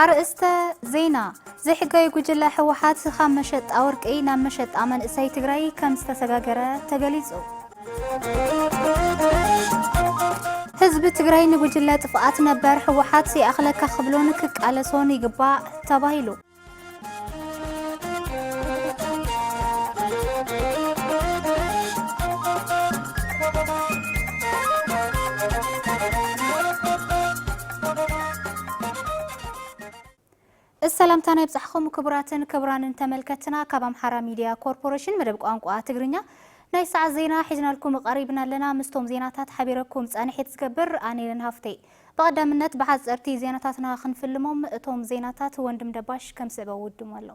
ኣርእስተ ዜና፣ ዘይሕጋዊ ጉጅለ ህወሓት ካብ መሸጣ ወርቂ ናብ መሸጣ መንእሰይ ትግራይ ከምዝተሰጋገረ ተገሊፁ። ህዝቢ ትግራይ ንጉጅለ ጥፍኣት ነበር ህወሓት ይኣኽለካ ክብሎን ክቃለሶን ይግባእ ተባሂሉ። እዚ ሰላምታና ይብጻሕኹም ክቡራትን ክቡራንን ተመልከትና ካብ ኣምሓራ ሚድያ ኮርፖሬሽን መደብ ቋንቋ ትግርኛ ናይ ሰዓት ዜና ሒዝናልኩም ቀሪብና ኣለና። ምስቶም ዜናታት ሓቢረኩም ጻንሒት ዝገብር ኣኔልን ሃፍተይ ብቐዳምነት ብሓጸርቲ ዜናታትና ክንፍልሞም፣ እቶም ዜናታት ወንድም ደባሽ ከም ዝስዕበ ውድሞ ኣሎ።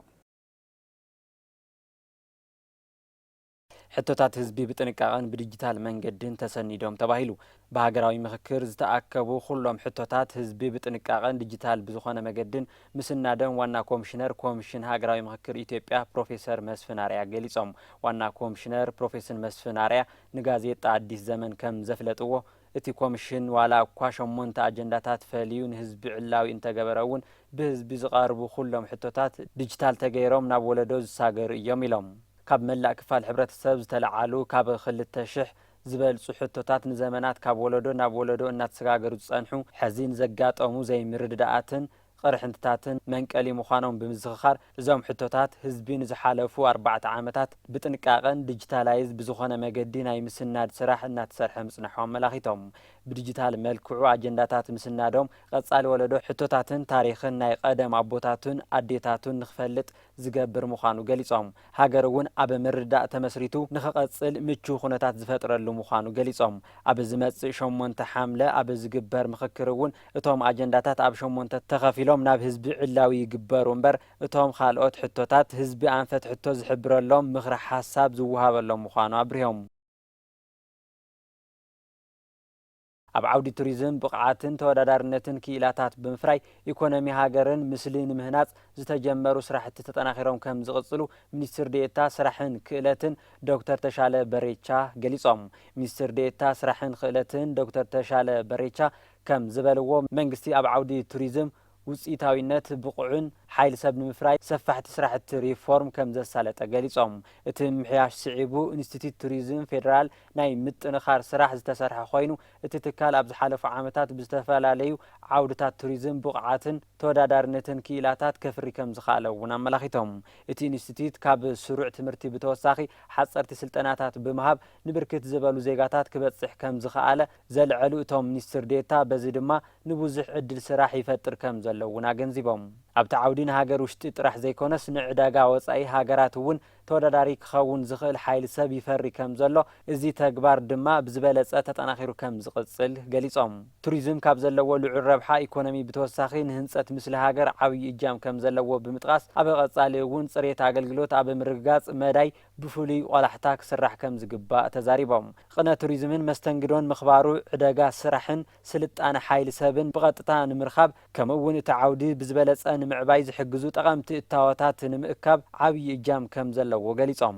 ሕቶታት ህዝቢ ብጥንቃቐን ብዲጂታል መንገድን ተሰኒዶም ተባሂሉ። ብሃገራዊ ምኽክር ዝተኣከቡ ኩሎም ሕቶታት ህዝቢ ብጥንቃቐን ዲጂታል ብዝኾነ መገድን ምስናዶም ዋና ኮምሽነር ኮምሽን ሃገራዊ ምኽክር ኢትዮጵያ ፕሮፌሰር መስፍን ኣርኣያ ገሊፆም። ዋና ኮምሽነር ፕሮፌስን መስፍን ኣርኣያ ንጋዜጣ ኣዲስ ዘመን ከም ዘፍለጥዎ፣ እቲ ኮምሽን ዋላ እኳ ሸሞንተ ኣጀንዳታት ፈልዩ ንህዝቢ ዕላዊ እንተገበረ እውን ብህዝቢ ዝቐርቡ ኩሎም ሕቶታት ድጅታል ተገይሮም ናብ ወለዶ ዝሳገሩ እዮም ኢሎም። ካብ መላእ ክፋል ሕብረተሰብ ዝተለዓሉ ካብ ክልተ ሽሕ ዝበልፁ ሕቶታት ንዘመናት ካብ ወለዶ ናብ ወለዶ እናተሰጋገሩ ዝፀንሑ ሕዚ ንዘጋጠሙ ዘይምርድዳኣትን ቕርሕንትታትን መንቀሊ ምዃኖም ብምዝኽኻር፣ እዞም ሕቶታት ህዝቢ ንዝሓለፉ ኣርባዕተ ዓመታት ብጥንቃቐን ዲጂታላይዝ ብዝኾነ መገዲ ናይ ምስናድ ስራሕ እናተሰርሐ ምፅናሑ ኣመላኺቶም። ብዲጂታል መልክዑ ኣጀንዳታት ምስናዶም ቐፃሊ ወለዶ ሕቶታትን ታሪኽን ናይ ቐደም ኣቦታቱን ኣዴታቱን ንክፈልጥ ዝገብር ምዃኑ ገሊፆም። ሃገር እውን ኣብ ምርድዳእ ተመስሪቱ ንክቐፅል ምችው ኩነታት ዝፈጥረሉ ምዃኑ ገሊፆም። ኣብ ዝመፅእ ሸሞንተ ሓምለ ኣብ ዝግበር ምኽክር እውን እቶም ኣጀንዳታት ኣብ ሸሞንተ ተኸፊሎም ናብ ህዝቢ ዕላዊ ይግበሩ እምበር እቶም ኻልኦት ሕቶታት ህዝቢ ኣንፈት ሕቶ ዝሕብረሎም ምኽረ ሓሳብ ዝወሃበሎም ምዃኑ ኣብሪሆም። ኣብ ዓውዲ ቱሪዝም ብቕዓትን ተወዳዳርነትን ክኢላታት ብምፍራይ ኢኮኖሚ ሃገርን ምስሊ ንምህናፅ ዝተጀመሩ ስራሕቲ ተጠናኺሮም ከምዝቕፅሉ ሚኒስትር ዴኤታ ስራሕን ክእለትን ዶክተር ተሻለ በሬቻ ገሊፆም። ሚኒስትር ዴኤታ ስራሕን ክእለትን ዶክተር ተሻለ በሬቻ ከምዝበልዎ፣ መንግስቲ ኣብ ዓውዲ ቱሪዝም ውፅኢታዊነት ብቑዕን ሓይሊ ሰብ ንምፍራይ ሰፋሕቲ ስራሕቲ ሪፎርም ከምዘሳለጠ ገሊፆም። እቲ ምምሕያሽ ስዒቡ ኢንስቲትዩት ቱሪዝም ፌዴራል ናይ ምጥንኻር ስራሕ ዝተሰርሐ ኮይኑ እቲ ትካል ኣብ ዝሓለፉ ዓመታት ብዝተፈላለዩ ዓውድታት ቱሪዝም ብቕዓትን ተወዳዳሪነትን ክኢላታት ከፍሪ ከምዝኸኣለ እውን ኣመላኺቶም። እቲ ኢንስቲትዩት ካብ ስሩዕ ትምህርቲ ብተወሳኺ ሓፀርቲ ስልጠናታት ብምሃብ ንብርክት ዝበሉ ዜጋታት ክበፅሕ ከምዝኸኣለ ዘልዐሉ እቶም ሚኒስትር ዴኤታ፣ በዚ ድማ ንብዙሕ ዕድል ስራሕ ይፈጥር ከምዘሎ እውን ኣገንዚቦም። ኣብቲ ዓውዲ ንሃገር ውሽጢ ጥራሕ ዘይኮነስ ንዕዳጋ ወፃኢ ሃገራት እውን ተወዳዳሪ ክኸውን ዝኽእል ሓይሊ ሰብ ይፈሪ ከምዘሎ፣ እዚ ተግባር ድማ ብዝበለፀ ተጠናኺሩ ከምዝቕፅል ገሊፆም። ቱሪዝም ካብ ዘለዎ ልዑል ረብሓ ኢኮኖሚ ብተወሳኺ ንህንፀት ምስሊ ሃገር ዓብዪ እጃም ከምዘለዎ ብምጥቓስ፣ ኣብ ቐፃሊ እውን ፅሬት ኣገልግሎት ኣብ ምርግጋፅ መዳይ ብፍሉይ ቆላሕታ ክስራሕ ከምዝግባእ ተዛሪቦም። ቕነ ቱሪዝምን መስተንግዶን ምኽባሩ ዕደጋ ስራሕን ስልጣነ ሓይሊ ሰብን ብቐጥታ ንምርኻብ ከምኡ እውን እቲ ዓውዲ ብዝበለፀ ንምዕባይ ዝሕግዙ ጠቐምቲ እታወታት ንምእካብ ዓብዪ እጃም ከምዘለዎ ገሊፆም።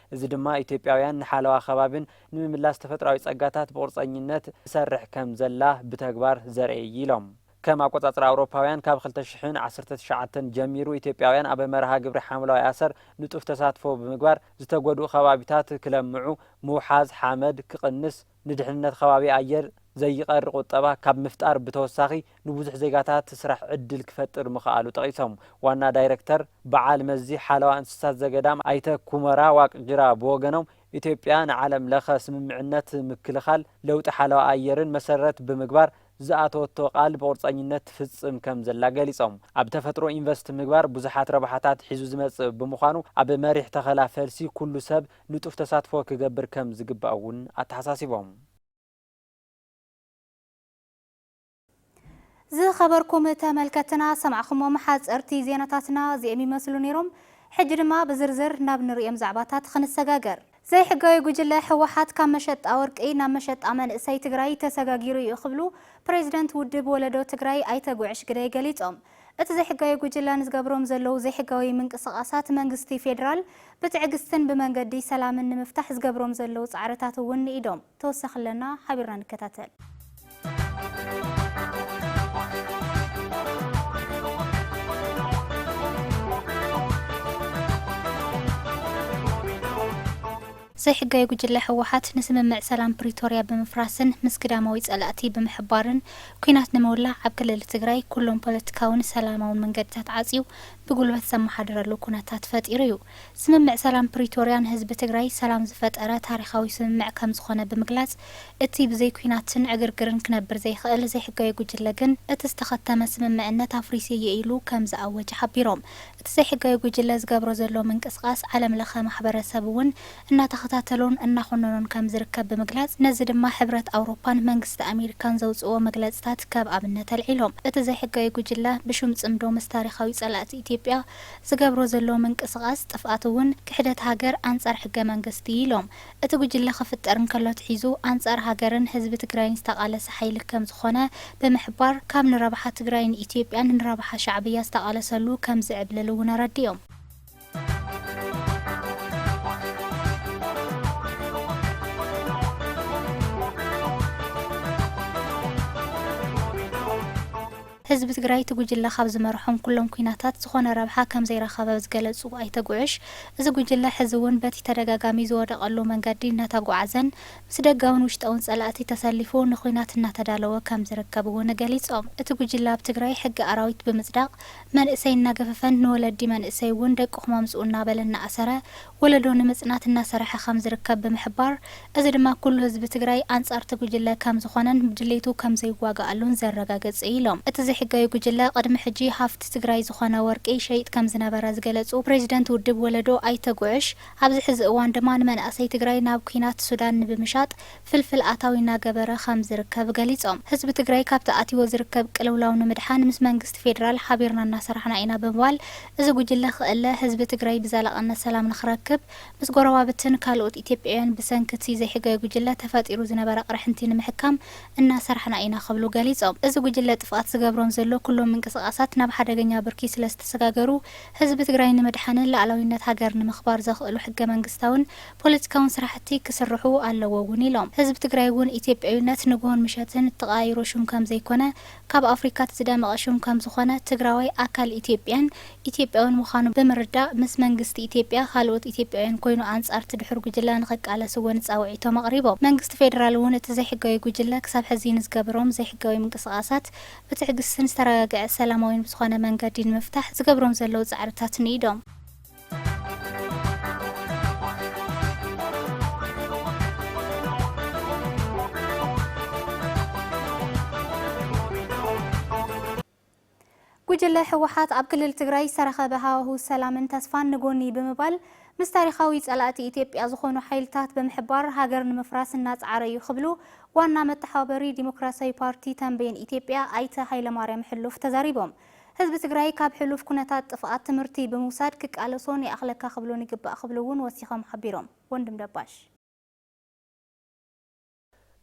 እዚ ድማ ኢትዮጵያውያን ንሓለዋ ከባቢን ንምምላስ ተፈጥሮኣዊ ፀጋታት ብቑርፀኝነት ትሰርሕ ከምዘላ ብተግባር ዘርኢ እዩ ኢሎም። ከም ኣቆፃፅራ ኣውሮፓውያን ካብ ክልተ ሽሕን ዓሰርተ ትሽዓተን ጀሚሩ ኢትዮጵያውያን ኣብ መርሃ ግብሪ ሓምለዋይ ኣሰር ንጡፍ ተሳትፎ ብምግባር ዝተጎድኡ ከባቢታት ክለምዑ፣ ምውሓዝ ሓመድ ክቕንስ፣ ንድሕንነት ከባቢ ኣየር ዘይቐሪ ቁጠባ ካብ ምፍጣር ብተወሳኺ ንብዙሕ ዜጋታት ስራሕ ዕድል ክፈጥር ምኽኣሉ ጠቒሶም። ዋና ዳይረክተር በዓል መዚ ሓለዋ እንስሳት ዘገዳም ኣይተ ኩመራ ዋቅጅራ ብወገኖም፣ ኢትዮጵያ ንዓለም ለኸ ስምምዕነት ምክልኻል ለውጢ ሓለዋ ኣየርን መሰረት ብምግባር ዝኣተወቶ ቃል ብቑርፀኝነት ትፍፅም ከምዘላ ገሊፆም። ኣብ ተፈጥሮ ኢንቨስት ምግባር ብዙሓት ረብሓታት ሒዙ ዝመፅእ ብምዃኑ ኣብ መሪሕ ተኸላ ፈልሲ ኩሉ ሰብ ንጡፍ ተሳትፎ ክገብር ከም ዝግባእ እውን ኣተሓሳሲቦም። ዝኸበርኩም ተመልከትና ሰማዕኹሞም ሓጸርቲ ዜናታትና እዚኦም ይመስሉ ነይሮም ሕጂ ድማ ብዝርዝር ናብ ንርእዮም ዛዕባታት ኽንሰጋገር። ዘይሕጋዊ ጉጅለ ህወሓት ካብ መሸጣ ወርቂ ናብ መሸጣ መንእሰይ ትግራይ ተሰጋጊሩ እዩ ክብሉ ፕሬዚደንት ውድብ ወለዶ ትግራይ ኣይተ ጉዕሽ ግደይ ገሊፆም። እቲ ዘይሕጋዊ ጉጅለ ንዝገብሮም ዘለዉ ዘይሕጋዊ ምንቅስቓሳት መንግስቲ ፌዴራል ብትዕግስትን ብመንገዲ ሰላምን ንምፍታሕ ዝገብሮም ዘለዉ ፃዕርታት እውን ንኢዶም። ተወሳኺ ኣለና ሓቢርና ንከታተል። ዘይሕጋዊ ጉጅለ ህወሓት ንስምምዕ ሰላም ፕሪቶርያ ብምፍራስን ምስ ግዳማዊ ፀላእቲ ብምሕባርን ኲናት ንምውላዕ ኣብ ክልል ትግራይ ኩሎም ፖለቲካውን ሰላማውን መንገድታት ዓፅዩ ብጉልበት ዘመሓድረሉ ኩነታት ፈጢሩ ዩ። ስምምዕ ሰላም ፕሪቶርያ ንህዝቢ ትግራይ ሰላም ዝፈጠረ ታሪኻዊ ስምምዕ ከምዝኾነ ብምግላፅ እቲ ብዘይ ኲናትን ዕግርግርን ክነብር ዘይኽእል ዘይሕጋዊ ጉጅለ ግን እቲ ዝተኸተመ ስምምዕነት ኣፍሪሰ እየ ኢሉ ከምዝኣወጀ ሓቢሮም። እቲ ዘይሕጋዊ ጉጅለ ዝገብሮ ዘሎ ምንቅስቓስ ዓለም ለኸ ማሕበረሰብ እውን እናተኸታተሎን እናኾነኖን ከም ዝርከብ ብምግላፅ ነዚ ድማ ሕብረት ኣውሮፓን መንግስቲ ኣሜሪካን ዘውፅእዎ መግለፅታት ከብ ኣብነት ኣልዒሎም እቲ ዘይሕጋዊ ጉጅለ ብሹም ፅምዶ ምስ ታሪኻዊ ፀላእቲ ኢትዮጵያ ዝገብሮ ዘሎ ምንቅስቓስ ጥፍኣት እውን ክሕደት ሃገር ኣንፃር ሕገ መንግስቲ እዩ ኢሎም። እቲ ጉጅለ ክፍጠር እንከሎ ኣትሒዙ ኣንጻር ሃገርን ህዝቢ ትግራይን ዝተቓለሰ ሓይሊ ከም ዝኾነ ብምሕባር፣ ካብ ንረብሓ ትግራይን ኢትዮጵያን ንረብሓ ሻዕብያ ዝተቓለሰሉ ከም ዝዕብልል እውን ኣረዲኦም። ህዝቢ ትግራይ እቲ ጉጅለ ካብ ዝመርሖም ኩሎም ኲናታት ዝኾነ ረብሓ ከምዘይረኸበ ዝገለፁ ኣይተ ጉዕሽ፣ እዚ ጉጅለ ሕዚ እውን በቲ ተደጋጋሚ ዝወደቐሉ መንገዲ እናተጓዓዘን ምስ ደጋውን ውሽጣውን ፀላእቲ ተሰሊፉ ንዂናት እናተዳለወ ከምዝርከብ እውን ገሊፆም። እቲ ጉጅለ ኣብ ትግራይ ሕጊ ኣራዊት ብምፅዳቕ መንእሰይ እናገፈፈን ንወለዲ መንእሰይ እውን ደቅኹም ኣምፅኡ እናበለ እናኣሰረ ወለዶ ንምፅናት እናሰርሐ ከምዝርከብ ብምሕባር፣ እዚ ድማ ኩሉ ህዝቢ ትግራይ ኣንፃር እቲ ጉጅለ ከምዝኾነን ብድሌቱ ከምዘይዋገኣሉን ዘረጋግፅ እዩ ኢሎም። እቲ ዘይሕጋዊ ጉጅለ ቕድሚ ሕጂ ሃፍቲ ትግራይ ዝኾነ ወርቂ ይሸይጥ ከምዝነበረ ዝገለፁ ፕሬዚደንት ውድብ ወለዶ ኣይተ ጉዕሽ፣ ኣብዚ ሕዚ እዋን ድማ ንመናእሰይ ትግራይ ናብ ኲናት ሱዳን ንብምሻጥ ፍልፍል ኣታዊ እናገበረ ከም ዝርከብ ገሊፆም። ህዝቢ ትግራይ ካብቲ ኣትይዎ ዝርከብ ቅልውላው ንምድሓን ምስ መንግስቲ ፌዴራል ሓቢርና እናሰራሕና ኢና ብምባል፣ እዚ ጉጅለ ክእለ ህዝቢ ትግራይ ብዘላቕነት ሰላም ንክረክብ ምስ ጎረባብትን ካልኦት ኢትዮጵያውያን ብሰንኪ እቲ ዘይሕጋዊ ጉጅለ ተፈጢሩ ዝነበረ ቅርሕንቲ ንምሕካም እናሰራሕና ኢና ክብሉ ገሊፆም። እዚ ጉጅለ ጥፍኣት ዝገብሮም ዘሎ ኩሎም ምንቅስቓሳት ናብ ሓደገኛ ብርኪ ስለዝተሰጋገሩ ህዝቢ ትግራይ ንምድሓንን ላእላዊነት ሃገር ንምኽባር ዘኽእሉ ሕገ መንግስታውን ፖለቲካውን ስራሕቲ ክስርሑ ኣለዎ እውን ኢሎም። ህዝቢ ትግራይ እውን ኢትዮጵያዊነት ንጉሆን ምሸትን እትቐያይሮ ሽም ከምዘይኮነ፣ ካብ ኣፍሪካ እቲ ዝደመቐ ሽም ከምዝኾነ፣ ትግራዋይ ኣካል ኢትዮጵያን ኢትዮጵያውን ምዃኑ ብምርዳእ ምስ መንግስቲ ኢትዮጵያ ካልኦት ኢትዮጵያውያን ኮይኑ ኣንፃር እቲ ድሑር ጉጅለ ንኽቃለስ እውን ፃውዒቶም ኣቕሪቦም። መንግስቲ ፌዴራል እውን እቲ ዘይሕጋዊ ጉጅለ ክሳብ ሕዚ ንዝገበሮም ዘይሕጋዊ ምንቅስቓሳት ብትዕግስትን ዝተረጋገዐ ሰላማዊን ብዝኾነ መንገዲ ንምፍታሕ ዝገብሮም ዘለዉ ፃዕርታት ንኢዶም። ጉጅለ ህወሓት ኣብ ክልል ትግራይ ዝተረኸበ ሃዋሁ ሰላምን ተስፋን ንጎኒ ብምባል ምስ ታሪኻዊ ፀላእቲ ኢትዮጵያ ዝኾኑ ሓይልታት ብምሕባር ሃገር ንምፍራስ እናፀዓረ እዩ ክብሉ ዋና መተሓባበሪ ዲሞክራሲያዊ ፓርቲ ተንቤን ኢትዮጵያ ኣይተ ሃይለማርያም ሕሉፍ ተዛሪቦም። ህዝቢ ትግራይ ካብ ሕሉፍ ኩነታት ጥፍኣት ትምህርቲ ብምውሳድ ክቃለሶን ይኣኽለካ ክብሎን ይግባእ ክብሉ እውን ወሲኾም ሓቢሮም። ወንድም ደባሽ።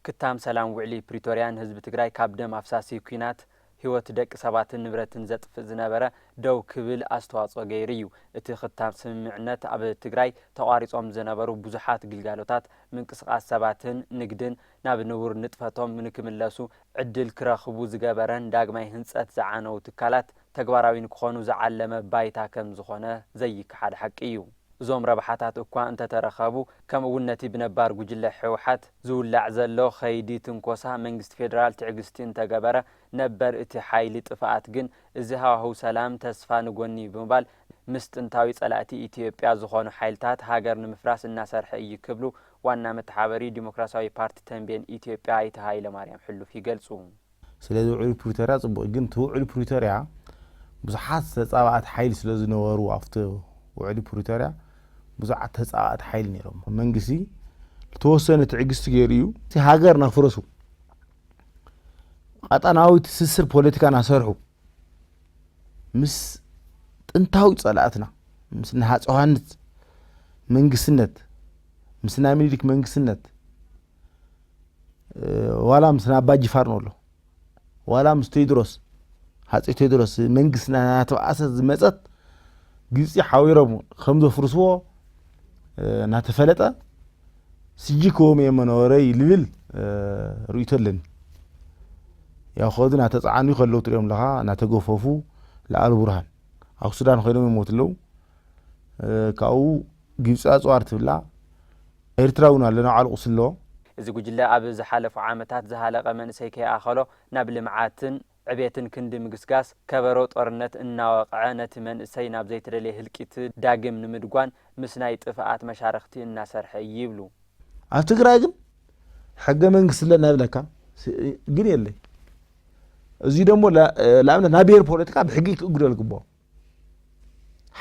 ክታም ሰላም ውዕሊ ፕሪቶርያ ንህዝቢ ትግራይ ካብ ደም ኣፍሳሲ ኲናት ህይወት ደቂ ሰባትን ንብረትን ዘጥፍእ ዝነበረ ደው ክብል ኣስተዋፅኦ ገይሩ እዩ። እቲ ክታም ስምምዕነት ኣብ ትግራይ ተቋሪፆም ዝነበሩ ብዙሓት ግልጋሎታት፣ ምንቅስቓስ ሰባትን ንግድን ናብ ንቡር ንጥፈቶም ንክምለሱ ዕድል ክረኽቡ ዝገበረን ዳግማይ ህንፀት ዝዓነዉ ትካላት ተግባራዊ ንክኾኑ ዝዓለመ ባይታ ከም ዝኾነ ዘይከሓድ ሓቂ እዩ። እዞም ረብሓታት እኳ እንተተረኸቡ ከምኡ እውን ነቲ ብነባር ጉጅለ ህወሓት ዝውላዕ ዘሎ ኸይዲ ትንኮሳ መንግስቲ ፌደራል ትዕግስቲ እንተገበረ ነበር እቲ ሓይሊ ጥፍኣት ግን እዚ ሃዋህው ሰላም ተስፋ ንጎኒ ብምባል ምስ ጥንታዊ ፀላእቲ ኢትዮጵያ ዝኾኑ ሓይልታት ሃገር ንምፍራስ እናሰርሐ እዩ ክብሉ ዋና መተሓበሪ ዲሞክራሲያዊ ፓርቲ ተምቤን ኢትዮጵያ ኣይተ ሃይለማርያም ሕሉፍ ይገልፁ። ስለዚ ውዕል ፕሪቶርያ ፅቡቕ እዩ ግን እቲ ውዕል ፕሪቶርያ ብዙሓት ተፃባእቲ ሓይሊ ስለ ዝነበሩ ኣብቲ ውዕሊ ፕሪቶርያ ብዙዓት ተፃባእቲ ሓይሊ ነይሮሞ መንግስቲ ልተወሰነ ትዕግስቲ ገይሩ እዩ እቲ ሃገር ናፍረሱ ቐጣናዊ ትስስር ፖለቲካ ናሰርሑ ምስ ጥንታዊ ጸላእትና ምስ ንሃፀ ዮሃንስ መንግስነት ምስ ናይ ምኒልክ መንግስነት ዋላ ምስ ናይ ኣባ ጅፋር ነሎ ዋላ ምስ ቴድሮስ ሃፀ ቴድሮስ መንግስቲ ናተበኣሰት ዝመፀት ግብፂ ሓዊሮም ከም ዘፍርስዎ እናተፈለጠ ስጂ ክወም እየ መነወረይ ልብል ርእይቶ ኣለኒ። ያው ከዚ ናተጻዓኑ ከለው ትሪኦም ኣለኻ ናተገፈፉ ለኣልቡርሃን ኣብ ሱዳን ኮይኖም ይሞቱ ኣለው ካብኡ ግብፂ ኣፅዋር ትብላ ኤርትራ እውን ኣሎ ናብዓሉ ቁስሊ ኣለዎ። እዚ ጉጅለ ኣብ ዝሓለፉ ዓመታት ዝሃለቐ መንእሰይ ከይኣኸሎ ናብ ልምዓትን፣ ዕቤትን ክንዲ ምግስጋስ ከበሮ ጦርነት እናወቕዐ ነቲ መንእሰይ ናብ ዘይተደልየ ህልቂት ዳግም ንምድጓን ምስ ናይ ጥፍኣት መሻርኽቲ እናሰርሐ እዪ ይብሉ። ኣብ ትግራይ ግን ሕገ መንግስቲ ኣለና ይብለካ ግን የለይ እዙይ ደሞ ንኣብነት ናይ ብሄር ፖለቲካ ብሕጊ ክእግዶ ዝግብኦ።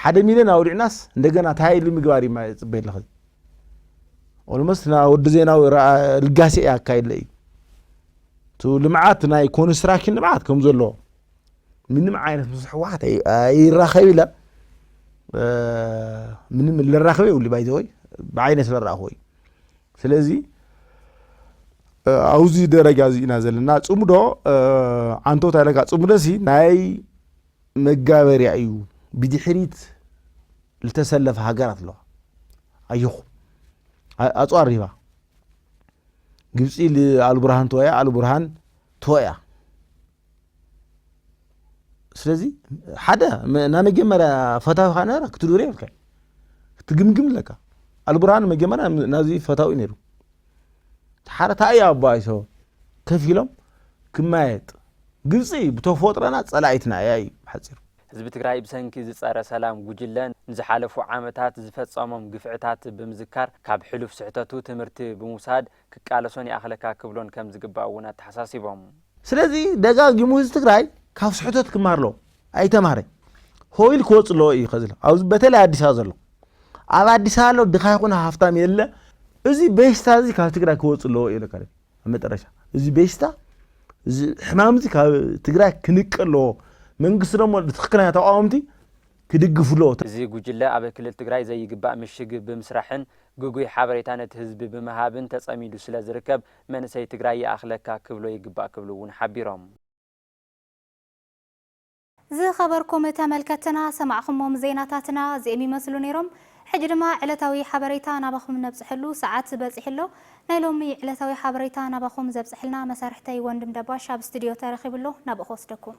ሓደ ሚልዮን ኣውዲዕናስ እንደገና ታይ ኢሉ ምግባር እዩ ፅበይ ኣለኸ ኦልሞስት ና ወዲ ዜናዊ ልጋሴ እያ ኣካይለ እዩ እቲ ልምዓት ናይ ኮንስትራክሽን ልምዓት ከም ዘሎ ምንም ዓይነት ምስ ሕወሓት ይራኸብ ኢለ ምንም ልራኸበ ይብሉ ባይዘወይ ብዓይነ ስለረኣኹ እዩ ስለዚ ኣብዚ ደረጃ እዚ ኢና ዘለና ፅምዶ ዓንቶት ኣለካ ፅምዶ ሲ ናይ መጋበርያ እዩ ብድሕሪት ልተሰለፋ ሃገራት ኣለዋ ኣየኹም ኣፅዋር ሪባ ግብፂ ኣልቡርሃን ተወያ ኣልቡርሃን ተወያ ስለዚ ሓደ ናይ መጀመርያ ፈታዊካ ነረ ክትድሪ የብልካ ክትግምግም ኣለካ ኣልቡርሃን መጀመርያ ናዚ ፈታዊ ነይሩ ሓረታይ ኣብ ባይቶ ከፍ ኢሎም ክማየጥ ግብፂ ብተፎጥረና ፀላኢትና እያ እዩ ብሓፂሩ። ህዝቢ ትግራይ ብሰንኪ እዚ ፀረ ሰላም ጉጅለ ንዝሓለፉ ዓመታት ዝፈፀሞም ግፍዕታት ብምዝካር ካብ ሕሉፍ ስሕተቱ ትምህርቲ ብምውሳድ ክቃለሶን ይኣኽለካ ክብሎን ከምዝግባእ እውን ኣተሓሳሲቦም። ስለዚ ደጋጊሙ ህዝቢ ትግራይ ካብ ስሕተት ክማር ኣለዎ ኣይተማረ ሆይል ክወፅ ኣለዎ እዩ ከዚ ኣብዚ በተለይ ኣዲስ ኣበባ ዘሎ ኣብ ኣዲስ ኣበባ ኣሎ ድኻ ይኹን ሃፍታም የለ እዚ በሽታ እዚ ካብ ትግራይ ክወፅ ኣለዎ እዩ ለካ መጠረሻ እዚ በሽታ እዚ ሕማም እዚ ካብ ትግራይ ክንቀ ኣለዎ መንግስቲ ደሞ ትክክለኛ ተቃወምቲ ክድግፉ ኣለዎ እዚ ጉጅለ ኣብ ክልል ትግራይ ዘይግባእ ምሽግ ብምስራሕን ግጉይ ሓበሬታ ነቲ ህዝቢ ብምሃብን ተፀሚዱ ስለዝርከብ መንእሰይ ትግራይ ይኣኽለካ ክብሎ ይግባእ ክብሉ እውን ሓቢሮም። ዝኸበርኩም ተመልከትትና ሰማዕኹሞም ዜናታትና እዚኦም ይመስሉ ነይሮም። ሕጂ ድማ ዕለታዊ ሓበሬታ ናባኹም ነብጽሕሉ ሰዓት በጺሑ ኣሎ። ናይ ሎሚ ዕለታዊ ሓበሬታ ናባኹም ዘብጽሕልና መሳርሕተይ ወንድም ደባሽ ኣብ ስቱድዮ ተረኺቡ ኣሎ ናብኡ ክወስደኩም።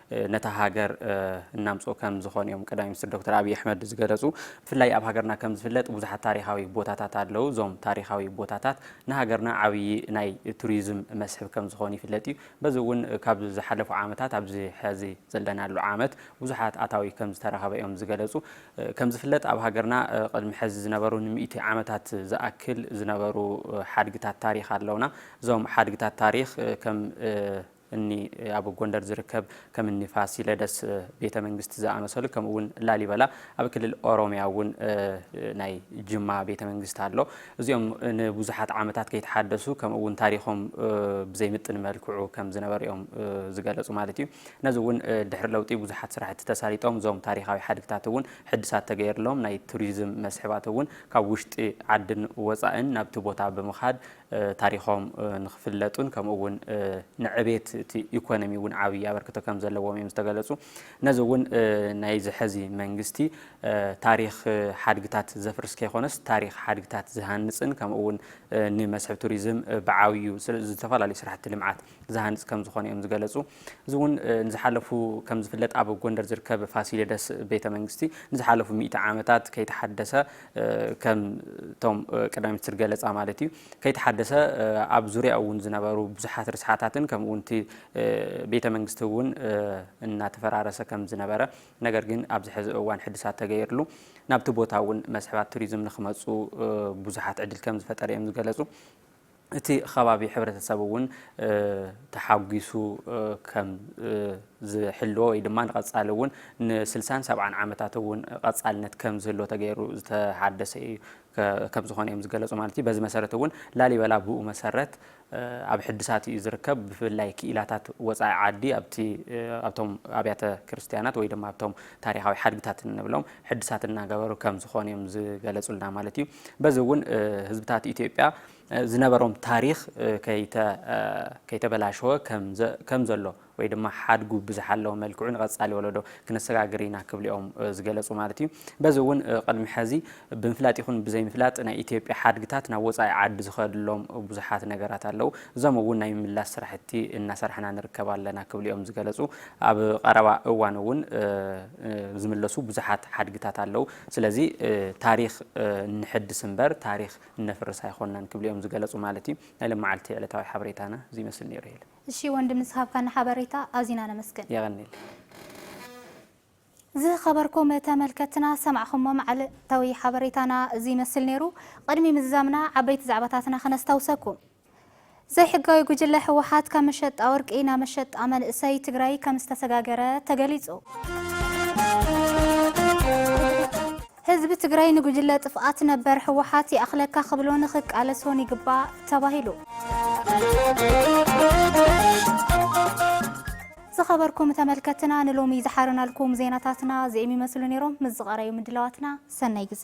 ነታ ሃገር እናምፅኡ ከም ዝኾኑ እዮም ቀዳማይ ሚኒስትር ዶክተር ኣብዪ ኣሕመድ ዝገለፁ። ብፍላይ ኣብ ሃገርና ከም ዝፍለጥ ብዙሓት ታሪኻዊ ቦታታት ኣለዉ። እዞም ታሪኻዊ ቦታታት ንሃገርና ዓብዪ ናይ ቱሪዝም መስሕብ ከም ዝኾኑ ይፍለጥ እዩ። በዚ እውን ካብ ዝሓለፉ ዓመታት ኣብዚ ሕዚ ዘለናሉ ዓመት ብዙሓት ኣታዊ ከም ዝተረኸበ እዮም ዝገለፁ። ከም ዝፍለጥ ኣብ ሃገርና ቅድሚ ሕዚ ዝነበሩ ንሚእቲ ዓመታት ዝኣክል ዝነበሩ ሓድግታት ታሪኽ ኣለውና። እዞም ሓድግታት ታሪኽ ከም እኒ ኣብ ጎንደር ዝርከብ ከም እኒ ፋሲለደስ ቤተ መንግስቲ ዝኣመሰሉ ከምኡ እውን ላሊበላ ኣብ ክልል ኦሮሚያ እውን ናይ ጅማ ቤተ መንግስቲ ኣሎ። እዚኦም ንብዙሓት ዓመታት ከይተሓደሱ ከምኡ እውን ታሪኾም ብዘይምጥን መልክዑ ከም ዝነበሩ እዮም ዝገለፁ ማለት እዩ። ነዚ እውን ድሕሪ ለውጢ ብዙሓት ስራሕቲ ተሳሊጦም እዞም ታሪኻዊ ሓድግታት እውን ሕድሳት ተገይርሎም ናይ ቱሪዝም መስሕባት እውን ካብ ውሽጢ ዓድን ወፃእን ናብቲ ቦታ ብምኻድ ታሪኾም ንክፍለጡን ከምኡ እውን ንዕቤት እቲ ኢኮኖሚ እውን ዓብዪ ኣበርክቶ ከም ዘለዎም እዮም ዝተገለፁ። ነዚ እውን ናይዚ ሕዚ መንግስቲ ታሪኽ ሓድግታት ዘፍርስ ከይኮነስ ታሪኽ ሓድግታት ዝሃንፅን ከምኡ እውን ንመስሕብ ቱሪዝም ብዓብዩ ዝተፈላለዩ ስራሕቲ ልምዓት ዝሃንፅ ከምዝኾነ እዮም ዝገለፁ። እዚ እውን ንዝሓለፉ ከምዝፍለጥ ኣብ ጎንደር ዝርከብ ፋሲለደስ ቤተ መንግስቲ ንዝሓለፉ ሚእቲ ዓመታት ከይተሓደሰ ከም እቶም ቀዳማይ ሚኒስትር ገለፃ ማለት እዩ ከይተሓደሰ ኣብ ዙሪያ እውን ዝነበሩ ብዙሓት ርስሓታትን ከምኡ እውን እቲ ቤተ መንግስቲ እውን እናተፈራረሰ ከም ዝነበረ ነገር ግን ኣብዚ ሕዚ እዋን ሕድሳት ተገይርሉ ናብቲ ቦታ እውን መስሕባት ቱሪዝም ንክመፁ ብዙሓት ዕድል ከም ዝፈጠረ እዮም ዝገለፁ። እቲ ኸባቢ ሕብረተሰብ እውን ተሓጒሱ ከም ዝሕልዎ ወይ ድማ ንቐፃሊ እውን ንስልሳን ሰብዓን ዓመታት እውን ቐፃልነት ከም ዝህልዎ ተገይሩ ዝተሓደሰ እዩ ከም ዝኾነ እዮም ዝገለፁ ማለት እዩ። በዚ መሰረት እውን ላሊበላ ብኡ መሰረት ኣብ ሕድሳት እዩ ዝርከብ። ብፍላይ ክኢላታት ወፃኢ ዓዲ ኣብቲ ኣብቶም ኣብያተ ክርስትያናት ወይ ድማ ኣብቶም ታሪኻዊ ሓድግታት እንብሎም ሕድሳት እናገበሩ ከም ዝኾኑ እዮም ዝገለፁልና ማለት እዩ። በዚ እውን ህዝብታት ኢትዮጵያ ዝነበሮም ታሪኽ ከይተበላሸወ ከም ዘሎ ወይ ድማ ሓድጉ ብዝሓለወ መልክዑ ንቐፃሊ ወለዶ ክነሰጋግር ኢና ክብሉ እዮም ዝገለፁ ማለት እዩ። በዚ እውን ቅድሚ ሕዚ ብምፍላጥ ይኹን ብዘይምፍላጥ ናይ ኢትዮጵያ ሓድግታት ናብ ወፃኢ ዓዲ ዝኸድሎም ብዙሓት ነገራት ኣለው። እዞም እውን ናይ ምምላስ ስራሕቲ እናሰራሕና ንርከብ ኣለና ክብሉ እዮም ዝገለፁ። ኣብ ቐረባ እዋን እውን ዝምለሱ ብዙሓት ሓድግታት ኣለው። ስለዚ ታሪኽ ነሐድስ እምበር ታሪኽ እነፍርስ ኣይኾንናን ክብሉ እዮም ዝገለፁ ማለት እዩ። ናይ ሎማዓልቲ ዕለታዊ ሓበሬታና እዚ ይመስል ነይሩ ሄለን። እሺ ወንድም ንዝሃብካና ሓበሬታ ኣዚና ነመስግን። የቐኔለይ። ዝኸበርኩም ተመልከትትና ሰማዕኹሞ መዓልታዊ ሓበሬታና እዚ ይመስል ነይሩ። ቕድሚ ምዝዛምና ዓበይቲ ዛዕባታትና ክነስታውሰኩም። ዘይሕጋዊ ጉጅለ ህወሓት ካብ መሸጣ ወርቂ ናብ መሸጣ መንእሰይ ትግራይ ከምዝተሰጋገረ ተገሊፁ። ህዝቢ ትግራይ ንጉጅለ ጥፍኣት ነበር ህወሓት ይኣኽለካ ክብሎን ክቃለሶን ይግባእ ተባሂሉ። ዝኸበርኩም ተመልከትና ንሎሚ ዝሓረናልኩም ዜናታትና እዚኦም ይመስሉ ነይሮም። ምስ ዝቐረዩ ምድላዋትና ሰናይ ግዘ